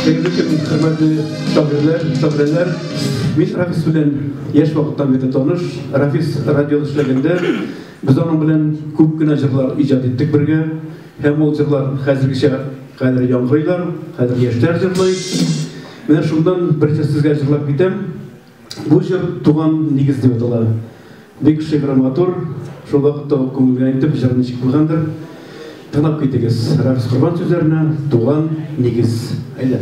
Бүгенге көн хөрмәтле шагыйрьләр, шагыйрәләр, мин Рафис белән яшь вакыттан бери таныш. Рафис радиода эшләгәндә без аның белән күп кенә җырлар иҗат иттек бергә. Һәм ул җырлар хәзергечә хәзер яңгырыйлар, хәзер яшьләр җырлый. Менә шуннан берсе сезгә җырлап китәм. Бу җыр Туган нигез дип атала. Бик шигъри матур, шул вакытта ук күңелгә интеп, җыр ничек булгандыр, тыңлап китегез. Рәфис Корбан сүзләренә Туган нигез. Әйдә.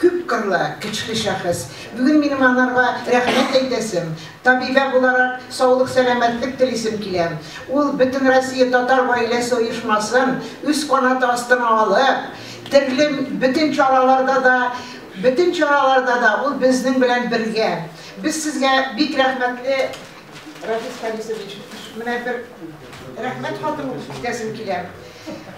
Күпкырлы, көчле шәхес. Бүген минем анарга рәхмәт әйтәсем, табибә буларак саулык-сәламәтлек телисем килә. Ул Бөтенроссия татар гаиләсе оешмасын үз канаты астына алып, терле бөтен чараларда да, бөтен чараларда да ул безнең белән бергә. Без сезгә бик рәхмәтле, Рафис Харисович. Менә бер рәхмәт хатын укып китәсем килә.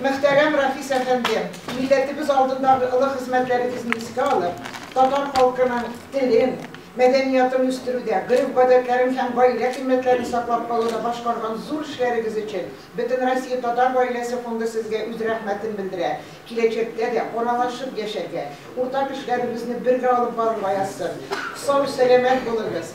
Мөхтәрәм Рафис әфәнде, милләтебез алдындагы олы хезмәтләрегезне искә алып, татар халкының телен, мәдәниятын үстерүдә, гореф-гадәтләрен һәм гаилә кыйммәтләрен саклап калуда башкарган зур эшләрегез өчен Бөтенроссия татар гаиләсе фонды сезгә үз рәхмәтен белдерә, киләчәктә дә аралашып яшәргә, уртак эшләребезне бергә алып барырга язсын. Сау-сәламәт булыгыз!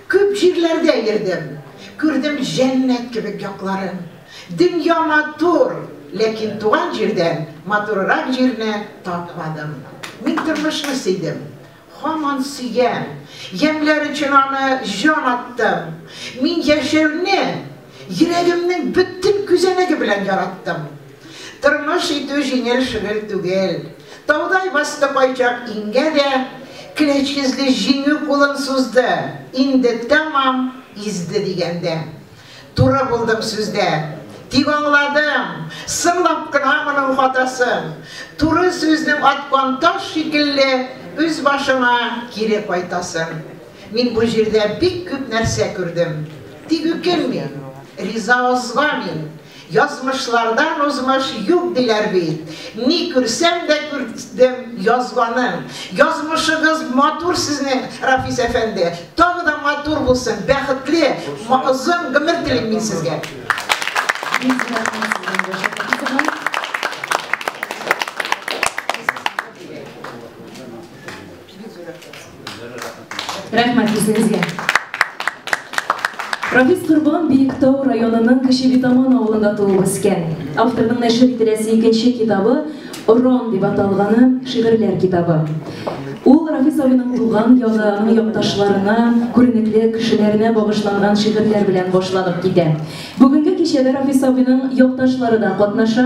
Күп җирләрдә йөрдем, күрдем җәннәт кебек якларын. Дөнья матур, ләкин туган җирдән матурырак җирне тапмадым. Мин тормышны сөйдем. Һаман сөям. Ямьләр өчен аны җан аттым. Мин яшәүне йөрәгемнең бөтен күзәнәге белән яраттым. Тормыш итү җиңел шөгель түгел. Таудай басты кайчак иңгә дә, Клеч йөзле Җиңү кулын сузды, Инде тәмам изде дигәндә. Туры булдым сүздә. Тик аңладым, Сынлап кына моның хатасын. Туры сүзнең аткан таш шикелле Үз башыңа кире кайтасын. Мин бу җирдә бик күп нәрсә күрдем. Тик үкенмим, риза озга мин. Язмышлардан узмыш юк диләр бит. Ни күрсәм дә күрдем язганың. Язмышыгыз матур сезнең, Рафис әфәнде. Тагы да матур булсын, бәхетле, озын гомер телим мин сезгә. Бик рәхмәт сезгә, Гөлшат апа туган. Рәхмәт үзегезгә. Рафис Корбан Биектау районының Кече Битаман авылында туып үскән. Авторның нәшер ителәсе икенче китабы Орон дип аталганы шигырьләр китабы. Ул Рафис абыйның туган ягы, аның якташларына, күренекле кешеләренә багышланган шигырьләр белән башланып китә. Бүгенге кичәдә Рафис абыйның якташлары да катнаша.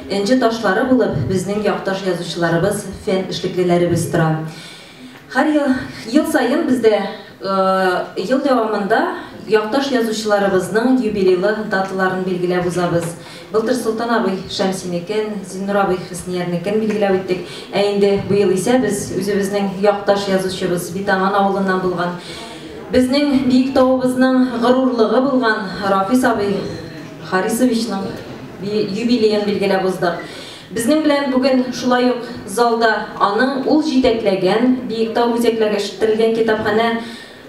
Энҗе ташлары булып безнең якташ язучыларыбыз, фән эшлеклеләребез тора. Һәр ел, ел саен бездә ел дәвамында якташ язучыларыбызның юбилейлы даталарын билгеләп узабыз. Былтыр Солтан абый Шәмсинекен, Зиннур абый Хөсниярнекен билгеләп үттек. Ә инде быел исә без үзебезнең якташ язучыбыз, Битаман авылыннан булган, безнең Биектауыбызның горурлыгы булган Рафис абый, Харисовичның юбилеен билгеләп уздык. Безнең белән бүген шулай ук залда аның ул җитәкләгән Биектау үзәкләре эшелттерелгән китапханә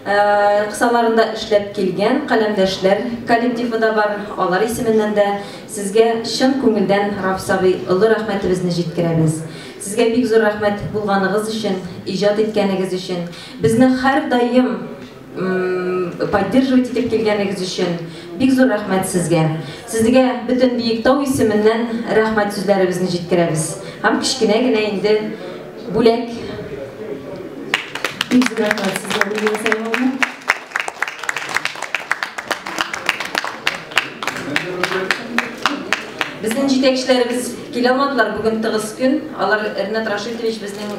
кысаларында эшләп килгән каләмдәшләр коллективы да бар. Алар исеменнән дә сезгә чын күңелдән Рафис абый олы рәхмәтебезне җиткерәбез. Сезгә бик зур рәхмәт булганыгыз өчен, иҗат иткәнегез өчен. Безне һәрдаим поддерживать итеп килгәнегез өчен бик зур рәхмәт сезгә. Сезгә бөтен Биектау исеменнән рәхмәт сүзләребезне җиткерәбез. Һәм кечкенә генә инде бүләк. Бик зур рәхмәт сезгә, Гөлия Сәлимовна. Безнең җитәкчеләребез килә алмадылар, бүген тыгыз көн. Алар Ренат Рашитович безнең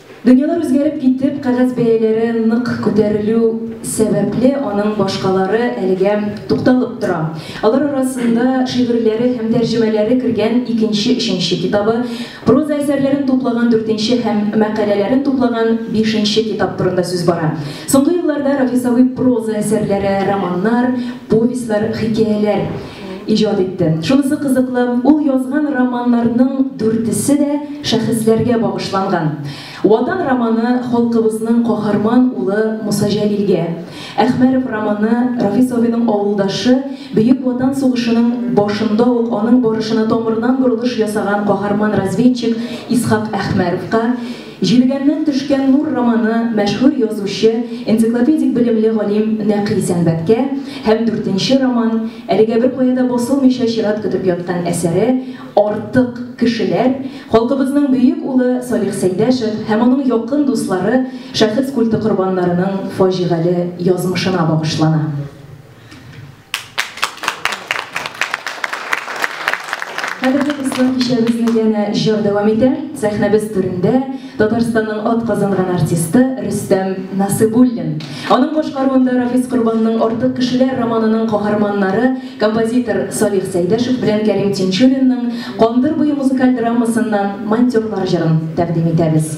Дөньялар үзгәреп китеп, кәгазь бәяләре нык күтәрелү сәбәпле, аның башкалары әлегә тукталып тора. Алар арасында шигырьләре һәм тәрҗемәләре кергән икенче, өченче китабы, проза әсәрләрен туплаган дүртенче һәм мәкаләләрен туплаган бишенче китап турында сүз бара. Соңгы елларда Рафис абый проза әсәрләре, романнар, повестьлар, хикәяләр. иҗат итте. Шунысы кызыклы, ул язган романнарның дүртесе дә шәхесләргә багышланган. Ватан романы халкыбызның каһарман улы Муса Җәлилгә, Әхмәров романы Рафис абыйның авылдашы, Бөек Ватан сугышының башында ук аның барышына тамырдан борылыш ясаган каһарман разведчик Исхак Әхмәровка, Җилгәннән төшкән нур романы мәшһүр язучы, энциклопедик белемле галим Нәкый Сәнбәткә һәм дүртенче роман, әлегә беркая да басылмыйча чират көтеп яткан әсәре Артык кешеләр, халкыбызның бөек улы Салих Сәйдәшев һәм аның якын дуслары шәхес культы корбаннарының фаҗигале язмышына багышлана. Хәзерге кысман кичәбезне янә җыр дәвам итә. Сәхнәбез түрендә Татарстанның ат казанган артисты Рөстәм Насыбуллин. Аның башкаруында Рафис Корбанның Артык кешеләр романының каһарманнары композитор Салих Сәйдәшев белән Кәрим Тинчуринның Кандыр буе музыкаль драмасыннан Монтёрлар җырын тәкъдим итәбез.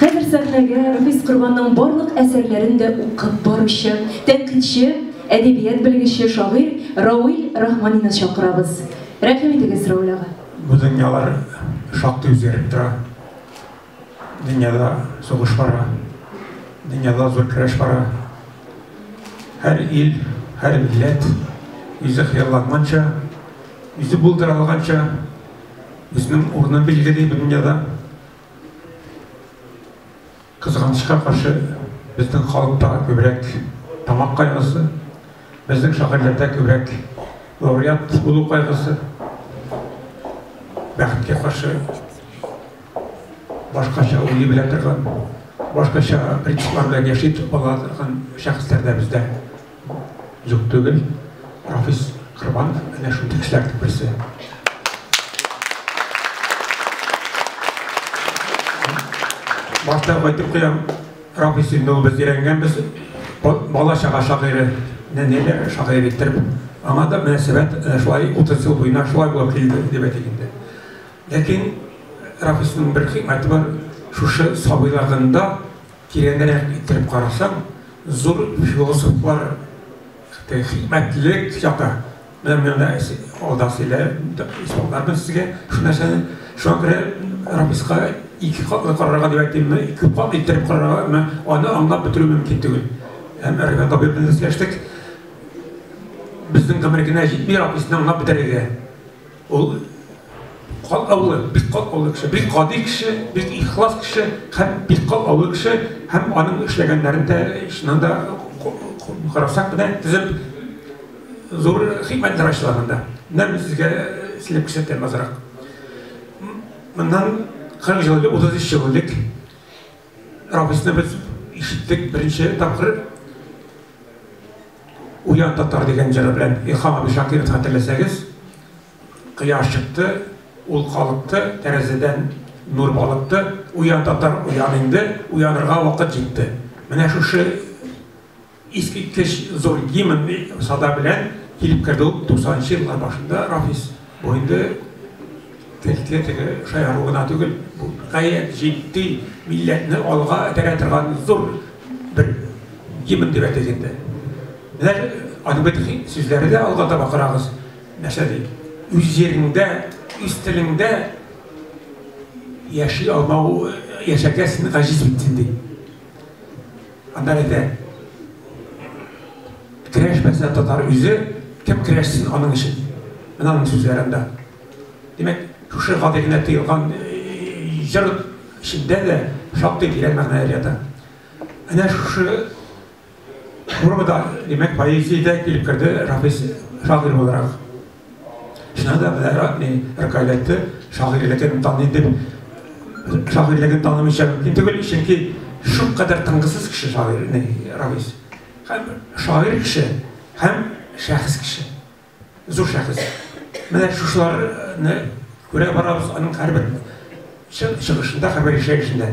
Хәзер сәхнәгә Рәфис Корбанның барлык әсәрләрен дә укып баручы, тәнкыйтьче, әдәбият белгече, шагыйрь Рауил Рахманинны чакырабыз. Рәхим итегез, Рауил ага. Бу дөньялар шактый үзгәреп тора. Дөньяда сугыш бара, дөньяда зур көрәш бара. Һәр ил, һәр милләт үзе хыялланганча, үзе булдыра алганча Безнең урыны билгели бу дөньяда. Кызганычка каршы, безнең халыкта күбрәк тамак кайгысы, безнең шагыйрьләрдә күбрәк лауреат булу кайгысы. Бәхеткә каршы, башкача уйлый белә торган, башкача принциплар белән яши бала торган шәхесләр дә бездә. Юк түгел, Рафис Корбанов әнә шундый кешеләрнең берсе. Башта әйтеп куям, Рафис инде ул без өйрәнгәнбез, бала чага шагыйре, нәниләр шагыйре иттереп, аңа да мөнәсәбәт э, шулай 30 ел буена шулай булып килде дип әйтик инде. Ләкин Рафисның бер хикмәте бар, шушы сабыйлыгында Тирәнрәк иттереп карасаң, зур философлар хикмәтлелек чакта менә алда сөйләп исбатларны сезгә шул нәрсәне. Шуңа күрә Рамиска ике катлы карарга дип әйтимме, ике кат иттереп карарга, аны аңлап бетерү мөмкин түгел. Һәм Рәфәт абый белән дә сөйләштек. Безнең гомер генә җитми Рамисны аңлап бетерергә. Ул катлаулы, бик катлаулы кеше, бик гади кеше, бик ихлас кеше һәм бик катлаулы кеше һәм аның эшләгәннәрен дә чыннан да карасак менә тезеп зур хикмәтләр ачыла монда. Менә мин сезгә эшләп күрсәтәм азрак. Моннан 40 ел элек, 33 ел элек Робесны без ишеттек беренче тапкыр Уян татар дигән җыры белән Илхам абый Шакиров хәтерләсәгез, кояш чыкты, ул калыкты, тәрәзәдән нур балыкты, уян татар, уян инде, уянырга вакыт җитте. Менә шушы Искиткеч зур гимн сада белән килеп керде ул туксанынчы еллар башында Рафис. Бу инде кәлтә теге шаяру гына түгел, бу гаять җитди милләтне алга этәрә торган зур бер гимн дип әйтик инде. Менә аның бит сүзләре дә алга таба карагыз. Нәрсә ди? Үз җиреңдә, үз телеңдә яши алмау яшәргә син гаҗиз бит син ди. Аннан инде Керәшмәсә татар үзе, кем керәшсен аның өчен? Менә аның сүзләре анда. Димәк, шушы гади генә тыелган җыр эчендә дә шактый тирән мәгънәләр ята. Әнә шушы формада, димәк, поэзиядә килеп керде Рафис шагыйрь буларак. Шуңа да менә Радмий Ркаветты шагыйрьлеген таный дип, шагыйрьлеген танымыйча мөмкин түгел, чөнки шулкадәр тынгысыз кеше шагыйрь Равис. Һәм шагыйрь кеше, һәм шәхес кеше. Зур шәхес. Менә шушыларны күрә барабыз аның һәрбер чыгышында, һәрбер ишәешендә.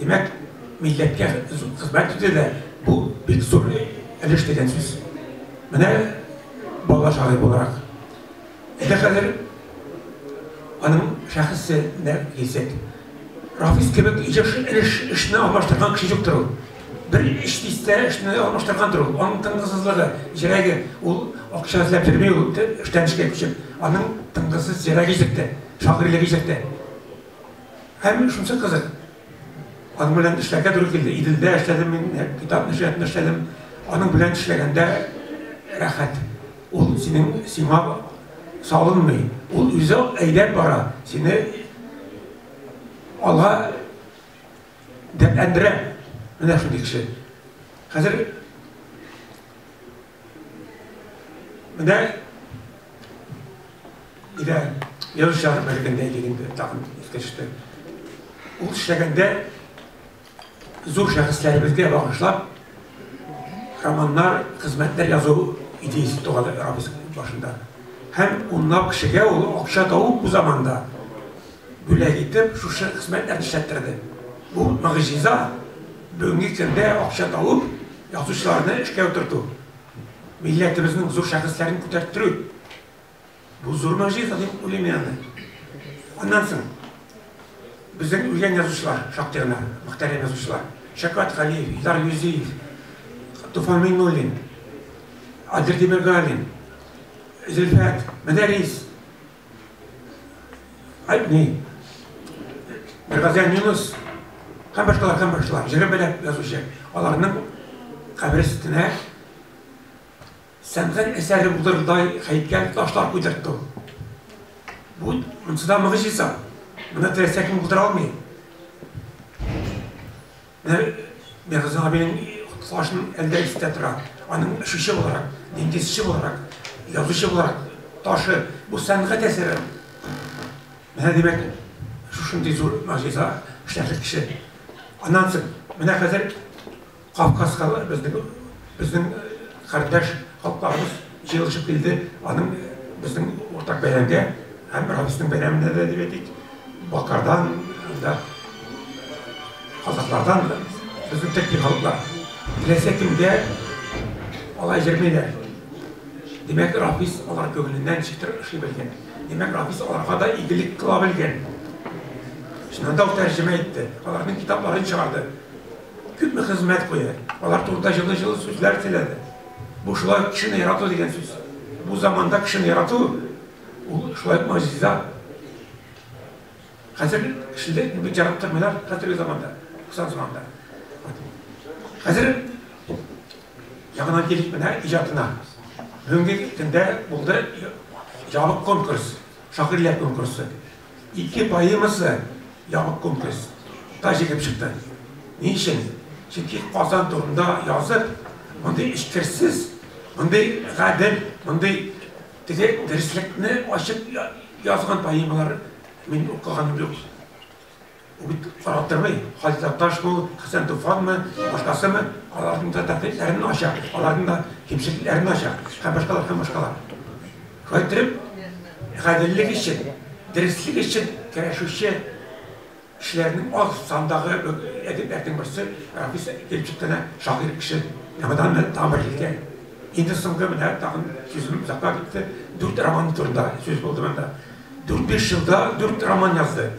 Димәк, милләткә хезмәт итүдә бу бик зур өлеш дигән сүз. Менә бала шагыйрь буларак, әле хәзер аның шәхесенә килсәк, Рафис кебек еш өлеш эшне алмаштырган кеше юктыр ул. Бер эш дистә эшне алмаштыргандыр ул. Аның тынгысызлыгы, җөрәге, ул акча эзләп йөрми ул, эштән эшкә күчеп. Аның тынгысыз җөрәге җитте, шагыйрьлеге җитте. Ә мин шунсы кызык. Аның белән эшләргә туры килде. Иделдә эшләдем мин, китап нәшриятында эшләдем. Аның белән эшләгәндә рәхәт. Ул синең сиңа салынмый. Ул үзе әйдәп бара. Сине алга дәртләндерә. Менә шундый кеше. Хәзер Менә Илә язу чыгарып бергәндә идек инде, тагын искә төште. Ул эшләгәндә зур шәхесләребезгә багышлап романнар, хезмәтләр язу идеясе туган Рабис башында. Һәм унлап кешегә ул акча табып бу заманда бүләк итеп шушы хезмәтләрне эшләттерде. Бу мөгъҗиза бүгенге көндә акча табып Язучыларны эшкә утырту, милләтебезнең зур шәхесләрен күтәрттерү, бу зур могҗиза дип уйлыйм мин аны. Аннан соң безнең үлгән язучылар шактый гына, мөхтәрәм язучылар. Шәфкать Галиев, Илдар Юзиев, Туфан Миңнуллин, Адел Тимергалин, Зөлфәт, Мәдәрис. Одни. Бергазян Юнус һәм башкалар һәм башкалар җыры белән язучы. Аларның кабер өстенә сәнгать әсәре булдырдай һәйкәл ташлар куйдыртты. Бу монсыда мөгъҗиза. Моны теләсә кем булдыра алмый. Бер Мирза абыйның катнашын әлдә истә тора. Аның очучы буларак, диңгезче буларак, язучы буларак ташы, бу сәнгать әсәре. Менә димәк, шушындый зур могҗиза эшләрлек кеше. Аннан соң, менә хәзер Кавказга безнең безнең кардәш халыкларыбыз Җыелышып килде, аның безнең уртак бәйрәмгә, һәм Рамисның бәйрәменә дә дип әйтик, Бакардан, анда казаклардан безнең төрки халыклар. Теләсә кемгә алай җырмыйлар. Димәк, Рафис алар күңеленнән чытыр ошый белгән. Димәк, Рафис аларга да игелек кыла белгән. Шуннан да ул тәрҗемә итте, аларның китапларын чыгарды. Күпме хезмәт куя, алар турында җылы-җылы сүзләр сөйләде. Бу шулай кешене ярату дигән сүз. Бу заманда кешене ярату ул шулай ук могҗиза. Хәзер кешене бик яратып тормыйлар хәзерге заманда, кысан заманда. Хәзер ягына килик менә иҗатына. Бүгенге көндә булды ябык конкурс, шагыйрьләр конкурсы. Ике поэмасы ябык конкурс та җиңеп чыкты. Ни өчен? Чөнки Казан турында язып, мондый эчкерсез, мондый гадел, мондый теге дөреслекне ачып язган поэмалар мин укыганым юк. Бу бит карап тормый, Хаҗи Такташ бу, Хәсән Туфанмы, башкасымы, аларның да тәнкыйтьләрен ача, аларның да кимчелекләрен ача һәм башкалар һәм башкалар. Шулай иттереп, гаделлек өчен, дөреслек өчен көрәшүче кешеләрнең аз сандагы әдипләрнең берсе Рафис Илчиккәнә шагыйрь кеше яңадан тагын бер җиткән. Инде соңгы менә тагын сүзем озакка китте. Дүрт роман турында сүз булды монда. Дүрт-биш елда дүрт роман язды.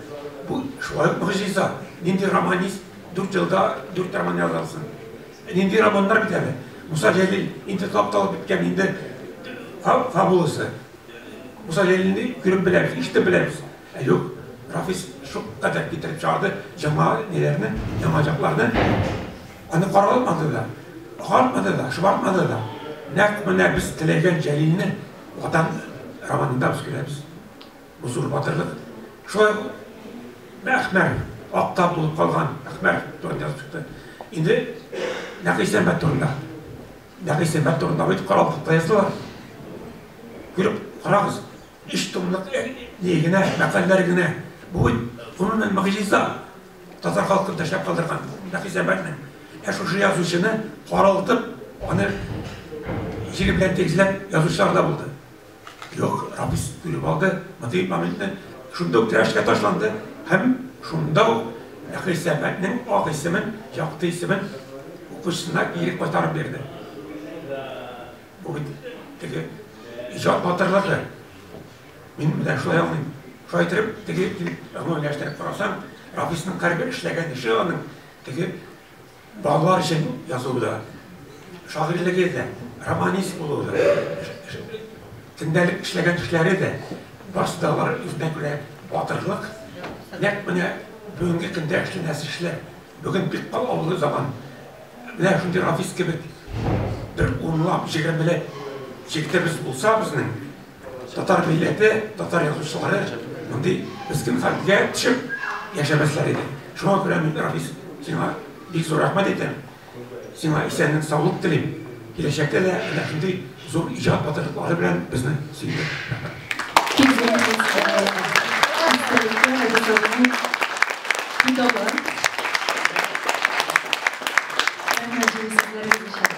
Бу шулай ук могҗиза. Нинди романист дүрт елда дүрт роман яза алсын? Ә нинди романнар бит әле. Муса Җәлил инде тапталып беткән, инде фабуласы. Муса Җәлилне күреп беләбез, ишетеп беләбез. Ә юк, Рафис шулкадәр китереп чыгарды яңа ниләрне, яңа чакларны. Аны каралмады да, агартмады да, шомартмады да. Нәкъ менә без теләгән Җәлилне Ватан романында без күрәбез, бу зур батырлык. Шулай ук Әхмәр, акта булып калган Әхмәр турында язып чыкты. Инде Нәкый Сәмбәт турында. Нәкый Сәмбәт турында бит каралыкта яздылар. Күреп карагыз, өч томлык ни генә, мәкальләр генә. Бу бит гомумән могҗиза. Татар халкын тешләп калдырган Шәхисәбәтнең. Ә шушы язучыны каралтып, аны җире белән тигезләп язучылар да булды. Юк, Рабис көлеп алды, мондый моментны шунда ук рәшкә ташланды һәм шунда ук Шәхисәбәтнең ак исемен, якты исемен укучысына кире кайтарып бирде. Бу бит теге иҗат батырлыгы. Мин үзем шулай аңлыйм. Шулай итеп, теге гомумиләштереп карасаң, Рафисның һәрбер эшләгән эше аның теге балалар өчен язуы да, шагыйрьлеге дә, романист булуы да, көндәлек эшләгән эшләре дә, барысы да алар үзенә күрә батырлык, нәкъ менә бүгенге көндә эшләнәсе эшләр. Бүген бик калаулы заман. Менә шундый Рафис кебек бер унлап, җигермеләп җегетебез булса безнең, Татар милләте, татар язучылары мондый мескин хәлгә төшеп яшәмәсләр иде. Шуңа күрә мин, Рафис, сиңа бик зур рәхмәт әйтәм. Сиңа исәнлек, саулык телим. Киләчәктә дә әнә шундый зур иҗат батырлыклары белән безне сөйдер. Китабы. Рәхмәт, җиңелсезләр, җиңелсезләр.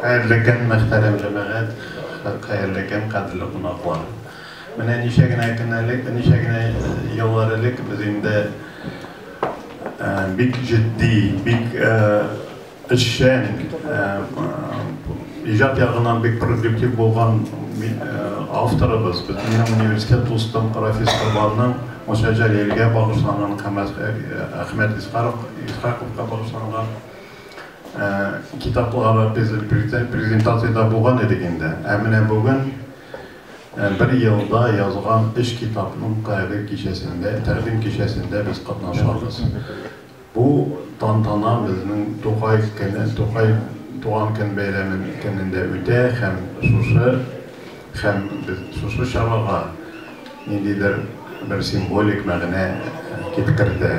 Хәерле көн, мөхтәрәм җәмәгать! Хәерле көн, кадерле кунаклар! Менә ничә генә көн элек, ничә генә еллар элек без инде бик җитди, бик эшчән, иҗат ягыннан бик продуктив булган авторыбыз, безнең университет дустым Рафис Корбанның Муса Җәлилгә багышланган һәм Әхмәт Исхаковка багышланган китаплары без презентациядә булган идек инде. Ә менә бүген бер елда язган өч китапның кадер кичәсендә, тәкъдим кичәсендә без катнашабыз. Бу тантана безнең Тукай көне, Тукай туган көн бәйрәме көнендә үтә һәм шушы һәм без шушы чарага ниндидер бер символик мәгънә киткертә.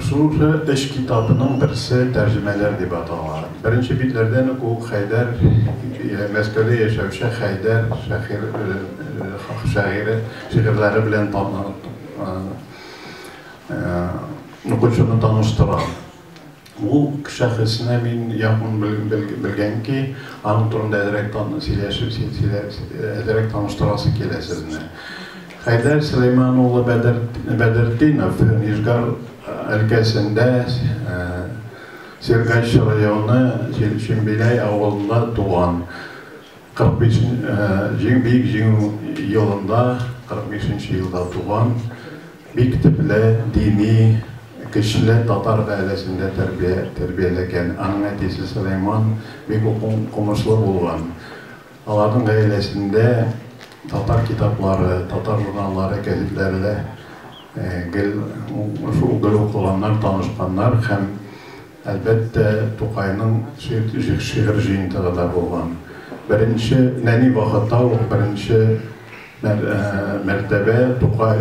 Шушы өч китапның берсе Тәрҗемәләр дип атала. Беренче битләрдән үк ул Хәйдәр, Мәскәүдә яшәүче Хәйдәр шахир, шагыйре шигырьләре белән Укучыны таныштыра. Ул шәхесне мин якын белгән ки, аның турында әзрәк сөйләшеп, әзрәк таныштырасы килә сезне. Хәйдәр Сөләйман улы Бәдертдинов, Нижгар өлкәсендә Сергач районы Чембиләй авылында туган. 45 нче Бөек Җиңү елында, 45 нче елда туган. Бик төпле, дини, көчле татар гаиләсендә тәрбияләгән. Аның әтисе Сөләйман бик укымышлы булган. Аларның гаиләсендә татар китаплары, татар журналлары, гәзитләре дә гел укыганнар, танышканнар һәм Әлбәттә, Тукайның шигырь җыентыгы да булган. Беренче, нәни вакытта ук беренче мәртәбә Тукай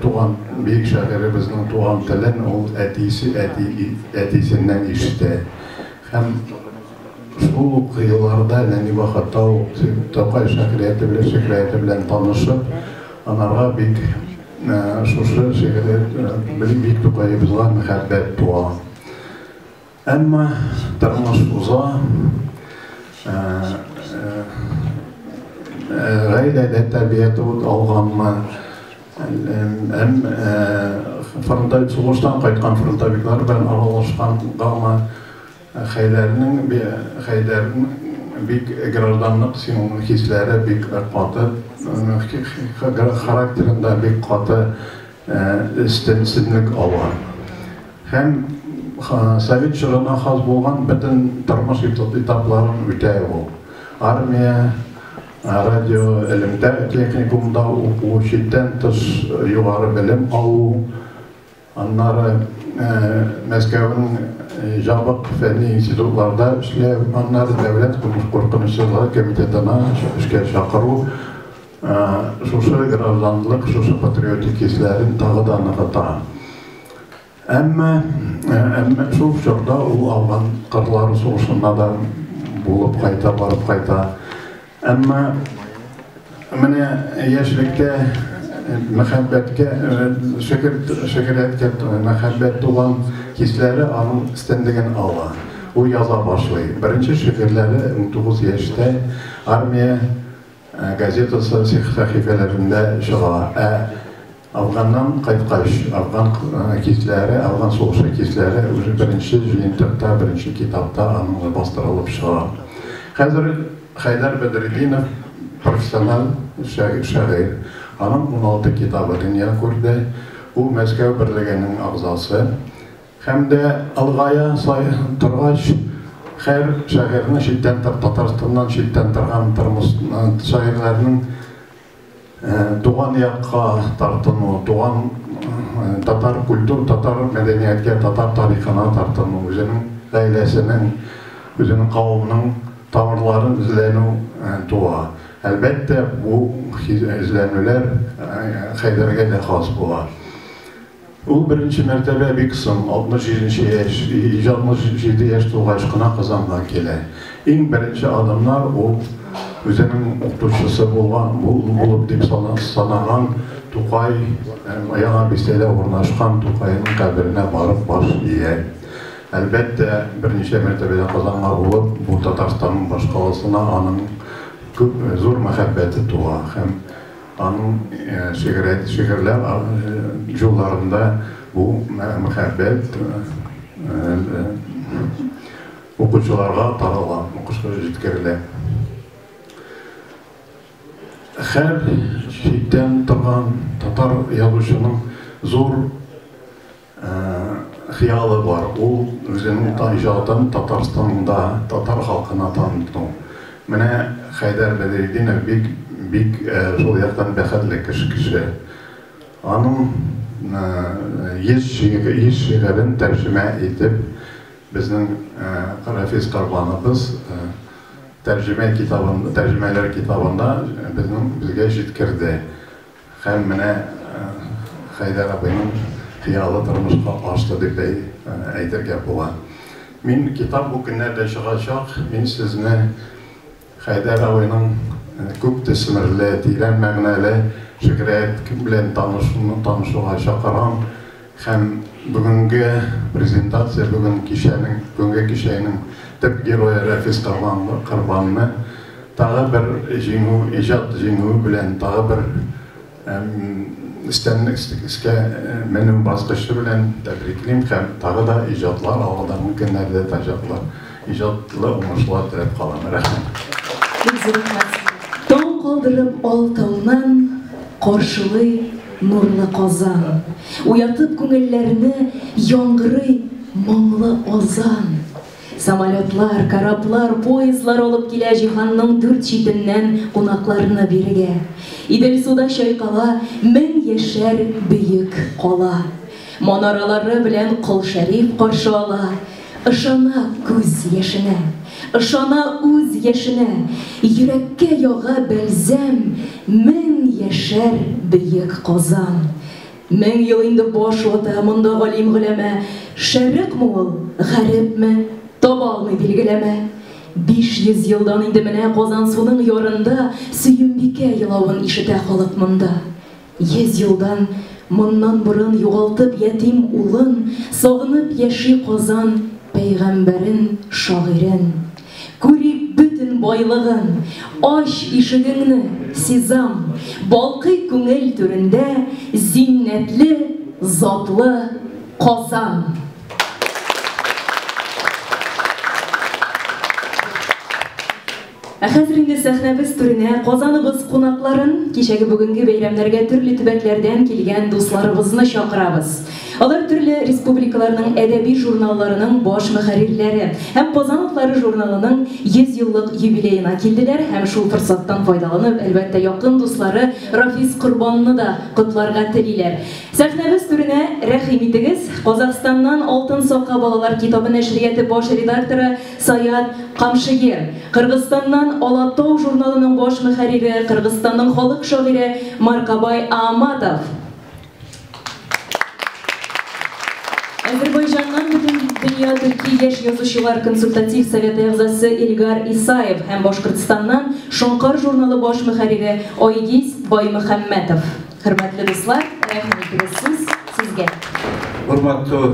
туган, бөек шагыйребезнең туган телен ул әтисе, әти, әтисеннән ишетә. Һәм шул ук елларда, нәни вакытта ук Тукай шагыйрияте белән, шигърияте белән танышып, анарга бик Шушы шигырьләр белән бит Тукаебызга мәхәббәт туа. Әмма тормыш уза, гаиләдә тәрбия тот алганмы, әм фронта сугыштан кайткан фронтовиклар белән аралашкангамы, Хәйдәрнең Хәйдәр бик гражданлык син хисләре бик каты характерында бик каты өстенлек ала һәм совет чорына хас булган бөтен тормыш этапларын үтә ул армия радио элемтә техникумда уку читтән тыш югары белем алу Аннары Мәскәүнең җабык фәнни институтларда эшләү, аннары дәүләт куркынычсызлыгы комитетына эшкә чакыру шушы гражданлык, шушы патриотик хисләрен тагы да ныгыта. Әмма, әмма шул чорда ул авган кырлары сугышында да булып кайта, барып кайта. Әмма менә яшьлектә мәхәббәткә, шөкер, шөкерәткә мәхәббәт туган хисләре аның өстенлеген ала. Ул яза башлый. Беренче шигырьләре 19 яшьтә армия газетасы сәхифәләрендә чыга. Ә Афганнан кайткач, афган кисләре, афган сугышы кисләре уже беренче җыентыкта, беренче китапта аннан бастырылып чыга. Хәзер Хәйдәр Бәдретдинов профессиональ шагыйрь. Аның уналты китабы дөнья күрде. Ул Мәскәү берлегенең әгъзасы. Һәм дә олыгая торгач, һәр шагыйрьнең читтән, Татарстаннан читтән торган шагыйрьләрнең Э, туган якка тартыну, туган э, татар культур, татар мәдәнияткә, татар тарихына тартыну, үзенең гаиләсенең, үзенең кавымның тамырларын эзләнү э, туа. Әлбәттә, бу эзләнүләр Хәйдәргә дә хас була. Ул беренче мәртәбә бик соң, 67 яшь, 67 яшь тулгач кына Казанга килә. Иң беренче адымнар ул үзенең укытучысы булган, булып дип санаган Тукай һәм Яңа Бистәдә урнашкан Тукайның каберенә барып баш ия. Әлбәттә, берничә мәртәбәдә Казанга булып, бу Татарстанның башкаласына аның күп, зур мәхәббәте туа һәм Аның шигърият шигырьләр җулларында бу мәхәббәт укучыларга тарала, укучыларга җиткерелә. Хәр читтән торган татар язучының зур Хыялы бар, ул үзенең иҗатын Татарстанда татар халкына таныту. Менә Хәйдәр Бәдретдинов бик, бик шул яктан бәхетле кеше. Аның 100 шигырен тәрҗемә итеп безнең Рафис Корбановбыз тәрҗемә китабын, тәрҗемәләр китабында безнең, безгә җиткерде. Һәм менә Хәйдәр абыйның хыялы тормышка ашты дип дә әйтергә була. Мин китап бу көннәрдә чыгачак, мин сезне Хәйдәр абыйның күп төсмерле, тирән мәгънәле шигърият белән танышуга чакырам. Һәм бүгенге презентация бүген кичәнең, бүгенге кичәйнең төп герое Рәфис Корбанлы, Корбанны тагы бер җиңү, иҗат җиңүе белән, тагы бер өстән өскә менү баскычы белән тәбриклим һәм тагы да иҗатлар алга да мөмкиннәр дә тачаклар. Иҗатлы уңышлар теләп калам. Рәхмәт. Таң калдырып алтыннан каршылый нурлы Казан. Уятып күңелләрне яңгырый моңлы азан. Самолетлар, кораблар, поездлар алып килә җиһанның дүрт читеннән кунакларны бирегә. Идел суда чайкала мең яшәр бөек кала. Манаралары белән Кол Шәриф каршы ала, Ышана күз яшенә. Ышана үз яшенә. Йөрәккә яга бәлзәм. Мең яшәр бөек Казан. Мең ел инде баш вата Монда галим-голәмә. Шәрыкмы ул, гарепме, Таба алмый билгеләмә. Биш йөз елдан инде менә Казансуның ярында Сөембикә елавын ишетә халык монда. Йөз елдан моннан борын Югалтып ятим улын, Сагынып яши Казан Пәйгамбәрен, шагыйрен. Күрик бөтен байлыгын, Ач ишегеңне, сизам, Балкый күңел түрендә Зиннәтле, затлы Казан! Ә хәзер инде сәхнәбез түренә Казаныбыз кунакларын, кичәге бүгенге бәйрәмнәргә төрле төбәкләрдән килгән дусларыбызны чакырабыз. Алар төрле республикаларның әдәби журналларының баш мөхәррирләре һәм Казан утлары журналының 100 еллык юбилеена килделәр һәм шул форсаттан файдаланып, әлбәттә, якын дуслары Рафис Корбанны да котларга телиләр. Сәхнәбез түренә рәхим итегез, Казахстаннан Алтын сака балалар китабы нәшрияты баш редакторы Саят Камшиев, Кыргызстаннан Алатау журналының баш мөхәррире, Кыргызстанның халык шагыйре Маркабай Ааматов. Әзербайҗаннан Бөтендөнья төрки яшь язучылар консультатив советы әгъзасы Илгар Исаев һәм Башкортстаннан Шоңкар журналы баш мөхәррире Айгиз Баймөхәммәтов. Хөрмәтле дуслар, рәхим итегез, сүз сезгә. Хөрмәтле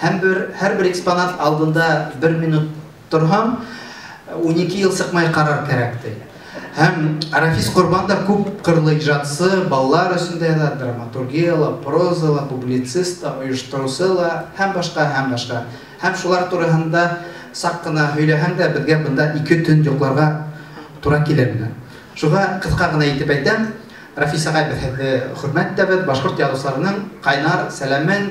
Һәм бер, һәрбер экспонат алдында бер минут торһаң, унике ел сыкмай карар кәрәк, ди. Һәм Рафис Корбан да күп кырлы иҗатчы, балалар өчендә дә, драматургия ла, проза ла, публицист та, оештыручы ла һәм башка, һәм башка. Һәм шулар турыһында сак кына һөйләһәң дә, безгә бында ике төн йокларга туры килер иде. Шуга кыска гына итеп әйтәм, Рафис агай, без һезде хөрмәт итәбез, башкорт язучыларының кайнар сәламен,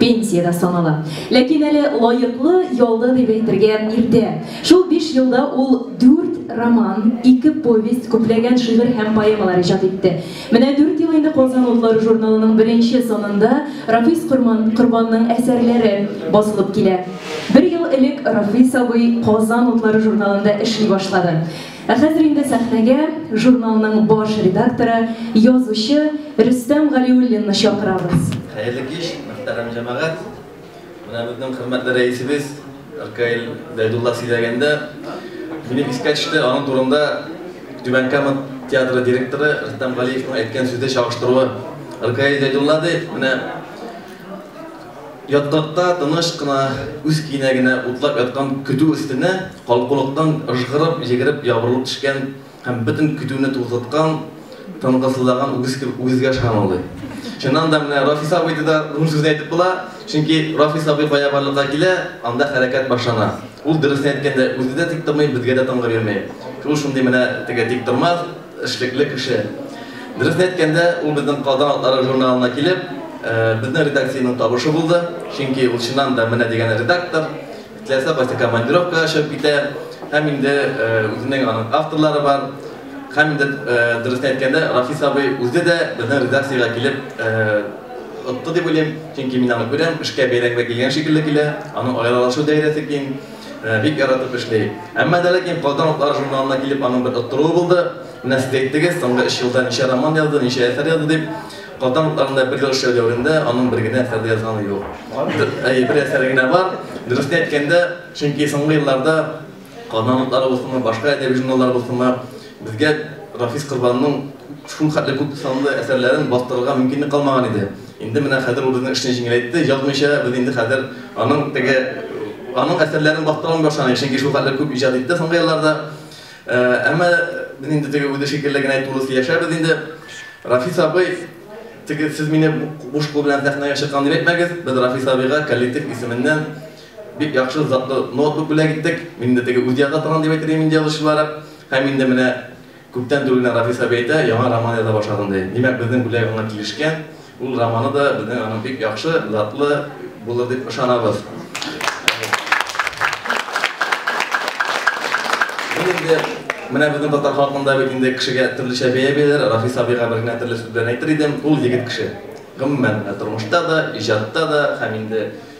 пенсиядә санала. Ләкин әле лаеклы ялда дип әйтергә иртә. Шул биш елда ул дүрт роман, ике повесть, күпләгән шигырь һәм поэмалар иҗат итте. Менә дүрт ел инде Казан утлары журналының беренче санында Рафис Корбанның әсәрләре басылып килә. Бер ел элек Рафис абый Казан утлары журналында эшли башлады. Ә хәзер инде сәхнәгә журналның баш редакторы, язучы Рөстәм Галиуллинны чакырабыз. Хәерле кич, мөхтәрәм җәмәгать! Менә безнең хөрмәтле рәисебез Ркаил Зәйдулла сөйләгәндә, минем искә төште, аның турында Түбән Кама театры директоры Рөстәм Галиевның әйткән сүзе чагыштыруы. Ркаил Зәйдулла ди, менә, Ятгатта тыныч кына үз көенә генә утлап яткан көтү өстенә калкулыктан ыжгырып йөгереп ябырылып төшкән һәм бөтен көтүне туктаткан тынгысызлаган үгез кебек үгезгә ышанулый. Чыннан да, менә Рафис абый да рун сүзен әйтеп була, чөнки Рафис абый кая барлыкка килә, анда хәрәкәт башлана. Ул, дөресен әйткәндә, үзе дә тик тормый, безгә дә тынгы бирми. Ул шундый менә теге тиктормас, Эшлекле кеше. Дөресен әйткәндә, ул безнең Казан атлары журналына килеп, безнең редакциянең табышы булды, чөнки ул чыннан да менә дигән редактор, теләсә кайсы командировкага чыгып китә, һәм инде үзенең аның авторлары бар, һәм инде, дөресен әйткәндә, Рафис абый үзе дә безнең редакциягә килеп отты дип уйлыйм, чөнки мин аны күрәм, эшкә бәйрәмгә килгән шикелле килә, аның аерылышу даирәсе киң. Бик яратып эшли. Әмма дә ләкин Казан утлары журналына килеп аның бер оттыруы булды. Менә сез әйттегез, соңгы өч елда ничә роман язды, ничә әсәр язды дип. Казан утларында бер ел эшләү дәверендә аның бер генә әсәр дә язганы юк. Әйе, бер әсәре генә бар. Дөресен әйткәндә, чөнки соңгы елларда Казан утлары булсынмы, башка әдәби журналлар булсынмы, Безгә Рафис Корбанның шулхәтле күп санлы әсәрләрен бастырырга мөмкинлек калмаган иде. Инде менә хәзер ул безнең эшне җиңеләйтте, язмыйча без инде хәзер аның теге аның әсәрләрен бастыра алмый башлаган идек, чөнки шулхәтле күп иҗат итте соңгы елларда. Әмма без инде теге үзе шикелле генә тулы сөйләшәбез инде. Рафис абый, теге сез мине буш кул белән сәхнәгә чыккан дип әйтмәгез, без Рафис абыйга коллектив исеменнән Бик яхшы, затлы ноутбук бүләк иттек. Мин инде теге үз яза торган дип әйтер идем инде язучылары. Һәм инде менә күптән түгел генә Рафис абый әйтә, яңа роман яза башладым ди. Димәк, безнең бүләк аңа килешкән. Ул романы да безнең аның бик яхшы, затлы булыр дип ышанабыз. Мин инде менә безнең татар халкында бит инде кешегә төрлечә бәя бирәләр. Рафис абыйга бер генә төрле сүз белән әйтер идем, ул егет кеше. Гомумән, тормышта да, иҗатта да һәм инде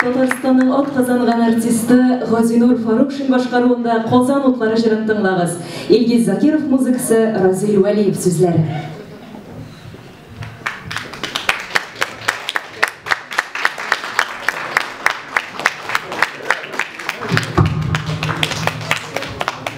Татарстанның атказанган артисты Газинур Фарукшин башкаруында Казан утлары җырын тыңлагыз. Илгиз Закиров музыкасы, Разил Вәлиев сүзләре.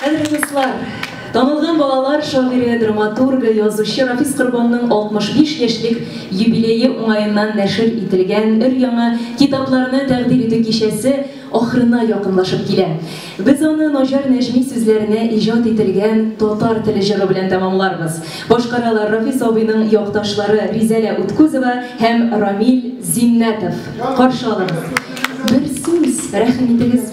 Кадерле дуслар! Танылган балалар шагыйре, драматургы, язучы Рафис Корбанның 65 яшьлек юбилее уңаеннан нәшер ителгән өр-яңа китапларны тәкъдир итү кичәсе ахырына якынлашып килә. Без аны Наҗар Нәҗми сүзләренә иҗат ителгән татар теле җыры белән тәмамларбыз. Башкаралар Рафис абыйның якташлары Ризәлә Уткузова һәм Рамил Зиннәтов. Каршы алыгыз! Бер сүз, рәхим итегез!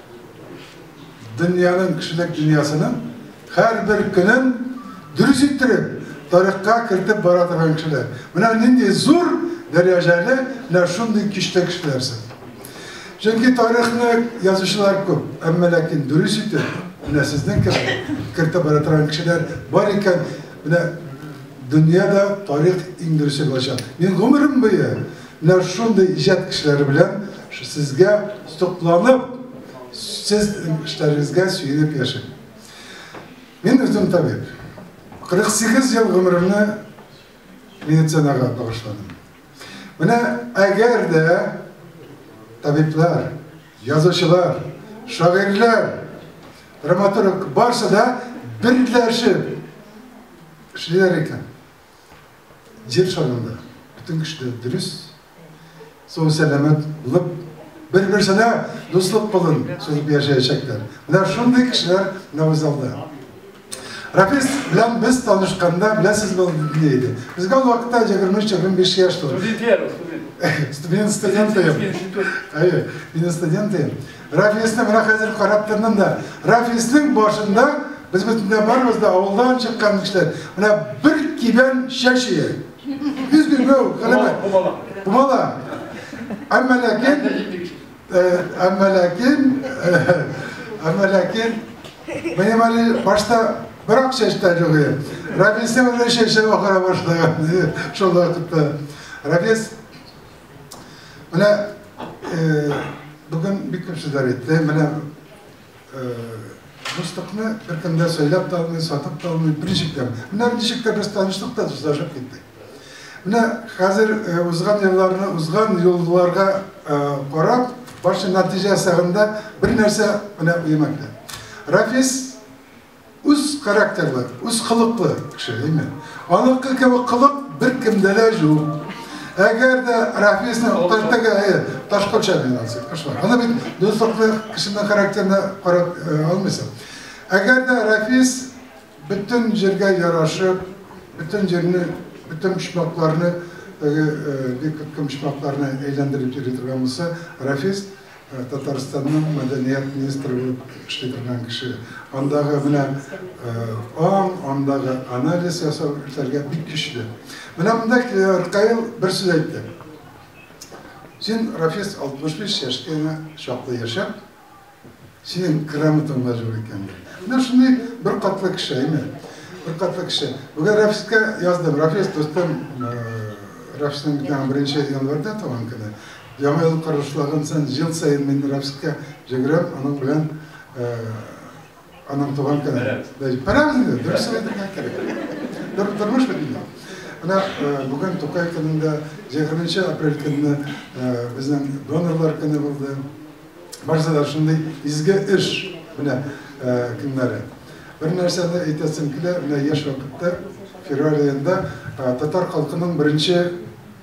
Дөньяның, кешелек дөньясының һәрбер көнен дөрес иттереп, тарихка кертеп бара торган кешеләр. Менә нинди зур дәрәҗәле менә шундый киштә кешеләрсез. Чөнки тарихны язучылар күп, әмма ләкин дөрес итеп менә сезнең кебек кертеп бара торган кешеләр бар икән, менә дөньяда тарих иң дөресе булачак. Мин гомерем буе Менә шундый иҗат кешеләре белән сезгә сокланып, сез эшләрегезгә сөенеп яшим. Мин үзем табиб. 48 ел гомеремне медицинага багышладым. Менә әгәр дә табиблар, язучылар, шагыйрьләр, драматург барсы да берләшеп эшлиләр икән, Җир шарында бөтен кешеләр дөрес, сау-сәламәт булып, бер-берсенә дуслык кылын сузып яшәячәкләр. Менә шундый кешеләр менә бу залда. Рафис белән без танышканда, беләсез бул ни иде? Безгә ул вакытта 23-25 яшь тулды. Студент, студент, студент. Әйе, мин студент идем. Рафисны менә хәзер карап тордым да, Рафисның башында без бөтенләй барыбыз да авылдан чыккан кешеләр. Менә бер кибән чәч ия. Без гүгү, кылыбы. Бумала. Бумала. Әмма ләкин әмма ләкин әмма ләкин минем әле башта бер ак чәч тә юк иде. Рафисның менә чәче ахыра башлаган. Шул вакытта Рафис Менә бүген бик күп сүзләр әйтте. Менә дуслыкны беркем дә сөйләп тә алмый, сатып та алмый, берничек тә. Менә ничек тә без таныштык та дуслашып киттек. Менә хәзер узган елларны, узган юлларга карап, башы нәтиҗә сагында бер нәрсә менә уема килә. Рафис үз характерлы, үз кылыклы кеше, әйме? Аныкы кебек кылык беркемдә дә юк. Әгәр дә Рафисны тәртәгә ташкача мин алсам, кошмар. Аны бит дуслыклы кешенең характерына карап алмыйсың. Әгәр дә Рафис бөтен җиргә ярашып, бөтен җирне, бөтен почмакларны, бик күп почмакларны әйләндереп йөри торган булса, Рафис Татарстанның мәдәният министры булып эшли торган кеше. Андагы менә аң, андагы анализ ясау эшләргә бик көчле. Менә монда Ркаил бер сүз әйтте. Син, Рафис, 65 яшькә генә чаклы яшәп, синең грамотаң да юк икән. Менә шундый бер катлы кеше, әйме? Бер катлы кеше. Бүген Рафискә яздым. Рафис, дустым, Рафисның беренче январьда туган көне. Яңа ел карышлаган саен, ел саен мин Рәфискә җөгерәм, аның белән аның туган көне. Бәрәбез. Бәрәбез инде, дөрес әйтергә кирәк. Тормыш бит инде. Менә бүген Тукай көнендә 20 апрель көнне безнең донорлар көне булды. Барысы да шундый изге эш менә көннәре. Бер нәрсәне әйтәсем килә, менә яшь вакытта февраль аенда татар халкының беренче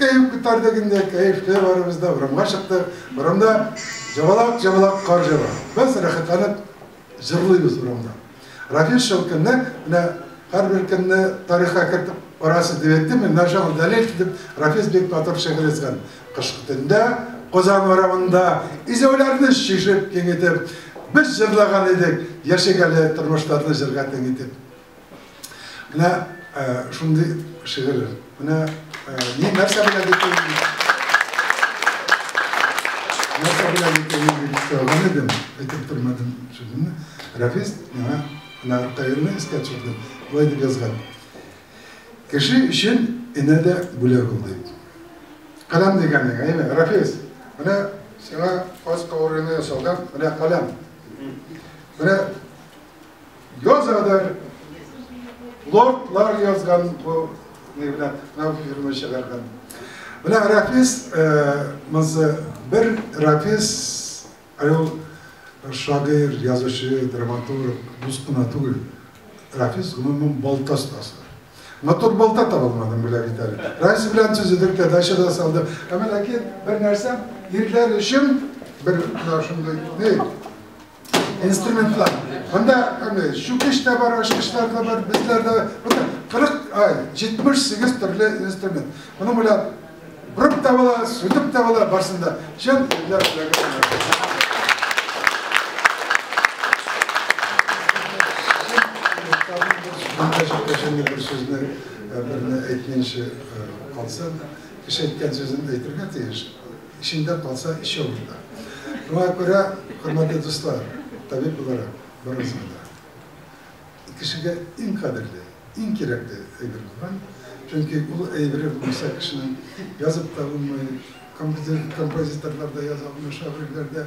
Кәеф күтәрде генә, кәефле барыбыз да урамга чыктык. Урамда җабалак-җабалак кар җава. Без рәхәтләнеп җырлыйбыз урамда. Рафил Шәүкәннәр менә һәрбер көнне тарихка кертеп барасы дип әйтте, менә нәрсә ул дәлил дип Рафис бик матур шигырь язган. Кышкы төндә Казан урамында изәүләрне чишеп, киң итеп, без җырлаган идек яшәгәле тормышларны җырга тиң итеп. Менә шундый шигырь. Менә ни нәрсә белән дип Нәрсә белән дип сөйләгән идем, әйтеп тормадым шигырьне. Рәфис миңа менә Рукаилне искә төшерде. Болай дип язган. Кеше өчен инә дә бүләк ул дип. Каләм дигәнең, әйме, Рәфис? Менә сиңа каз каурыйны ясалган, менә каләм. Менә Язадыр. Лордлар язган бу не белән нау фирма чыгарган. Менә Рафис мызы бер Рафис ул шагыйр, язучы, драматург, дус кына түгел. Рафис гомумән балта остасы. Матур балта табылмадым белә бит әле. Рафис белән төзедек тә дача да салды. Әмма ләкин бер нәрсә ирләр өчен бер шундый не инструментлар. Монда чүкеш тә бар, ачкычлар да бар, безләр дә бар. 40, ай, 78 төрле инструмент. Моның белән бүреп тә була, сүтеп тә була, барсын да. Чын ирләр бер сүзне берне әйтмейчә калсам, кеше әйткән сүзен әйтергә тиеш. Эчеңдә калса, эч авыр да. Шуңа күрә, хөрмәтле дуслар, табиб буларак, барыгызга да кешегә иң кадерле, иң кирәкле әйбер булган, чөнки ул әйбере булмаса кешенең язып та булмый, композиторлар да яза алмый, шагыйрьләр дә.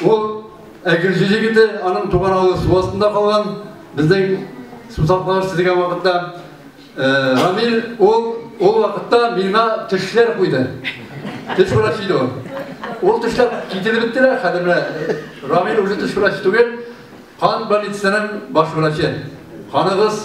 Ул Әгерҗе җегете, аның туган авылы су астында калган. Безнең сусаклар сизегән вакытта Рамил ул ул вакытта миңа төшләр куйды. Төш врачы иде ул. Ул төшләр кителеп беттеләр, хәзер менә Рамил уже төш врачы түгел, кан больницасының баш врачы. Каныгыз